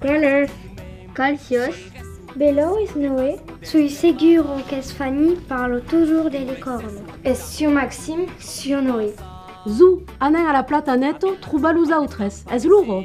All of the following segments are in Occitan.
Colors, colciós, belou es Noé. Soi seguro qu'es Fanny parlo tojor de licorno. Es sior Maxim, sior Noé. Zo, anem a la plata neto trobar los autres, es loro.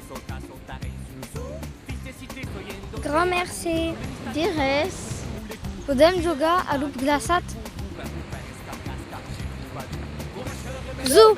Grand mercé. De res. Podem jogar a lo glaçat? Zoo!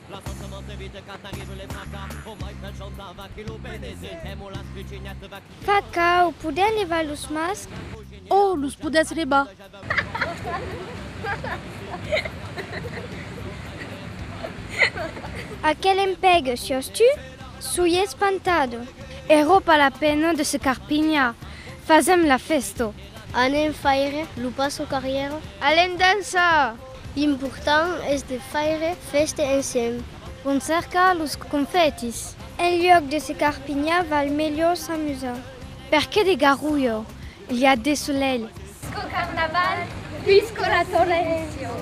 La cosa m'en t'evite quand arrivent les fracas Au mai pel chantar va qui lo benezit E mo las pichignèt va qui Caca, o podè levar los masc? O los podètz levar. A quel empèg siòs tu? Soi espantado. Ero pas la pena de se carpinhar, fasèm la fèsto. Anem faire lo passo carrièra. Alem dançar! L'important es de faire fèste ensems. Vòm cercar los confètis. En luòc de se carpinhar val melhor s'amusar. Per qué de garulho? L'i a de solelh. Sco carnaval, visco la tolencion.